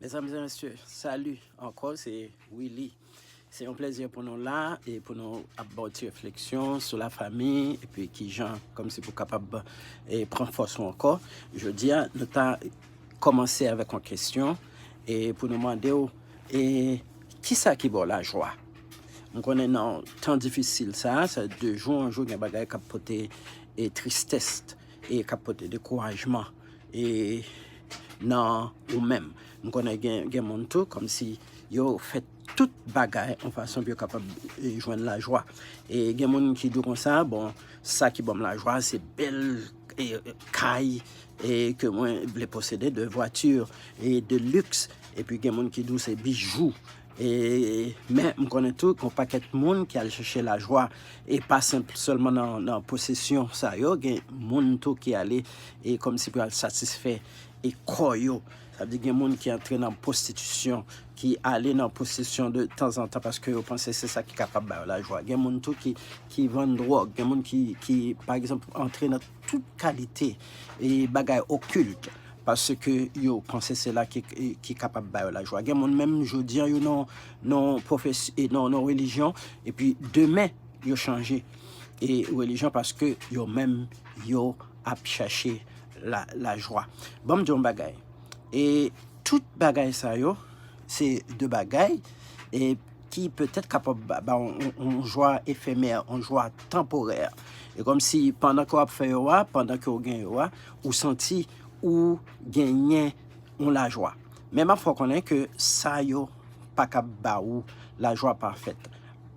Mezanmi e mesye, sali ankò se Willy. Se yon plezi pou nou la e pou nou ap baw ti refleksyon sou la fami epi kijan kòm si pou kapab e pran fòs ou ankò. Jodi a nou ta kòmanse avèk yon kesyon e pou nou mande ou e kisa ki baw lajwa? M konnen nan tan difisil sa, sa 2 jou 1 jou gen bagay kap pote e tristès e kap pote dekourajman e nan ou menm m konnen gen moun tou kòmsi yo fè tout bagay yon fason pou yo kapab jwenn lajwa e gen moun ki di w konsa bon sa ki banm lajwa se bèl kay e ke mwen vle posede de vwati e de lux epi gen moun ki di w se bijou E, men, m konnen tou gon pakèt moun ki al chèche lajwa, e pa senp sèlman nan, nan posesyon sa yo, gen moun tou ki ale, e kòm si pou y al satisfè, e kò yo. Sa vle di gen moun ki antre nan pwostitisyon, ki ale nan pwostisyon de tanzantan paske yo panse se sa ki kapab ba yo lajwa. Gen moun tou ki, ki vann dwòg, gen moun ki, ki, pa egzanp, antre nan. tout kalite bagay okilt paske yo panse se la ki kapab ba yo lajwa. Gen moun menm jodi an yo nan relijyon epi demen yo chanje relijyon paske yo menm yo ap chache lajwa. Ban m di w yon bagay, tout bagay sa yo se de bagay. ki petèt kapab ba w yon jwa efemè, yon jwa tanporè. E kòmsi pandan ke w ap fè yo a, pandan ke w gen yo a, ou santi ou genyen yon lajwa. Men m ap fè w konnen ke sa yo pa ka ba ou lajwa pafèt.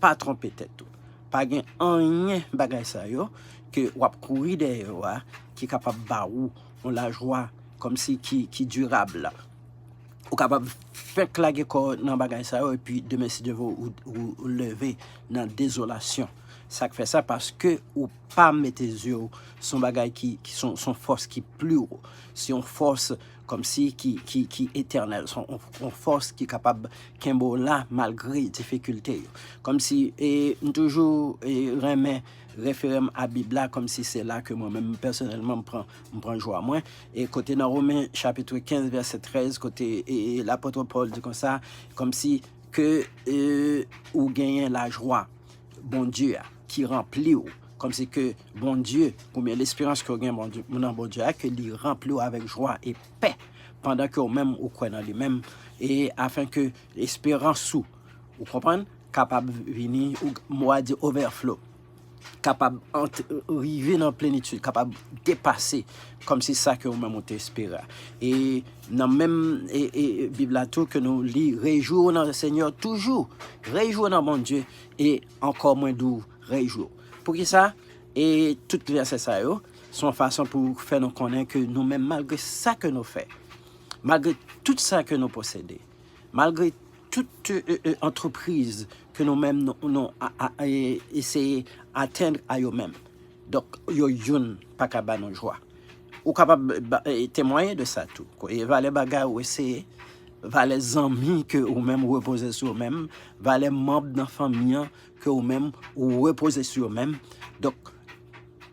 Pa twonpe tèt ou. Pa gen anyen bagay sa yo ke w ap kouri dèyè yo a ki kapab ba ou yon lajwa kòmsi ki dirab la. Ou kapab fenk lage kò w nan bagay sa yo epi demen si Dye vle ou leve nan dezolasyon. Sa k fè sa? Paske ou pa mete zye w sou yon bagay ki se yon fòs ki pli wo, se yon fòs kòmsi ki etènèl, se yon fòs ki kapab kenbe w la malgre difikilte yo. Kòmsi e m toujou renmen refere m a Bib la kòmsi se la ke mwen menm pèsonèlman m pran M pran jwa mwen. E kote nan Romen chapitre 15 vèsè 13 kote lapotre Paul di konsa, komsi ke ou genyen lajwa Bondye a ki ranpli ou, komsi ke Bondye, ou byen lesperans ke ou gen nan Bondye a, ke li ranpli ou avèk jwa e pè, pandan ke ou menm ou kwè nan li menm, e afen ke lesperans ou, ou konprann, kapab vini, mo a di overflow. kapab rive nan plenitid, kapab depase kòm si sa ke ou menm ou te espere a. E nan menm Bib la tou ke nou li, Rejwi w nan Lesenyè toujou, rejwi w nan Bondye, e ankò mwen di w, rejwi w. Poukisa? E tout vèsè sa yo, se yon fason pou fè nou konnen ke nou menm malgre sa ke nou fè, malgre tout sa ke nou posede, Malgre tout antrepriz ke nou menm nou eseye atenn a yo menm. Donk yo youn pa ka ba nou jwa. Ou kapab temwaye de sa tou. Koye valè bagay ou eseye, valè zanmi ke ou menm repoze sou ou menm, valè manb nan fanmi an. ke ou menm ou repoze sou yo menm, donk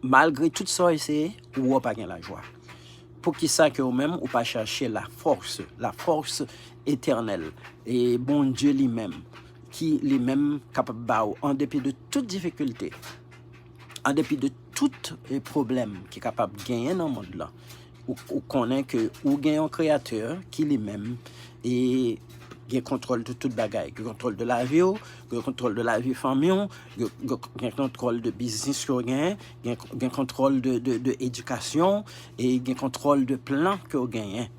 malgre tout sa w eseye, ou wè w pa gen lajwa. Poukisa ke ou menm ou pa chache lafòs, lafòs etènèl, e Bondye li menm, ki li menm kapab ba ou an depi de tout difikilte, an depi de tout pwoblèm ki kapab genyen nan mond lan, Ou konnen ke ou gen yon kreyatè ki li menm e gen kontwòl de tout bagay. Gen kontwòl de lavi ou, gen kontwòl de lavi fanmi ou, gen kontwòl de biznis ke ou genyen, gen kontwòl de edikasyon ou, e gen kontwòl de plan ke ou genyen.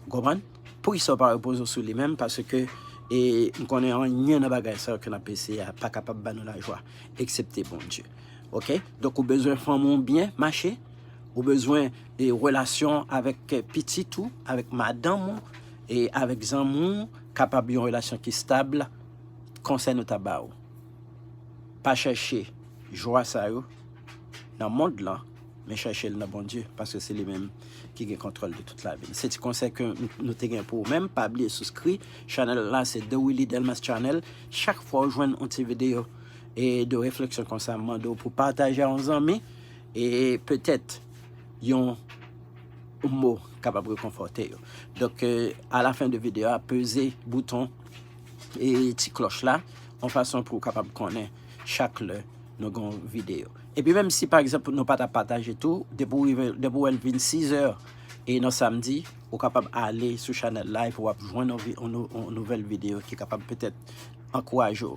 Ou konprann? Poukisa ou pa repoze ou sou li menm? Paske m konnen anyen nan bagay sa yo ke n ap eseye a pa kapab ba nou lajwa, eksepte Bondye. Ok donk ou bezwen fanm ou byen mache ou bezwen e relasyon avèk kè pitit ou avèk madanm ou e avèk zanmi ou kapab yon relasyon ki stab konsèy nou ta ba ou pa chèche jwa sa yo nan mond lan men chèche l nan Bondye paske se li menm ki gen kontwòl de tout lavi n se ti konsèy ke nou te gen pou ou menm pa bliye souskri chanèl la se The Willy Delmas Channel chak fwa ou jwenn yon ti videyo E de refleksyon konsa m mande w pou pataje a yon zanmi e petèt yon mo kapab rekonfòte yo. Donk a la fen de videyo a peze bouton e ti klòch la yon fason pou w kapab konnen chak lè nou gen yon videyo. Epi menm si pa egzanp nou pa ta pataje tou, depi w rive, depi w wè l vin 6 è e nan samdi, ou kapab ale sou chanèl la epi w ap jwenn yon nouvèl videyo ki kapab petèt ankouraje w.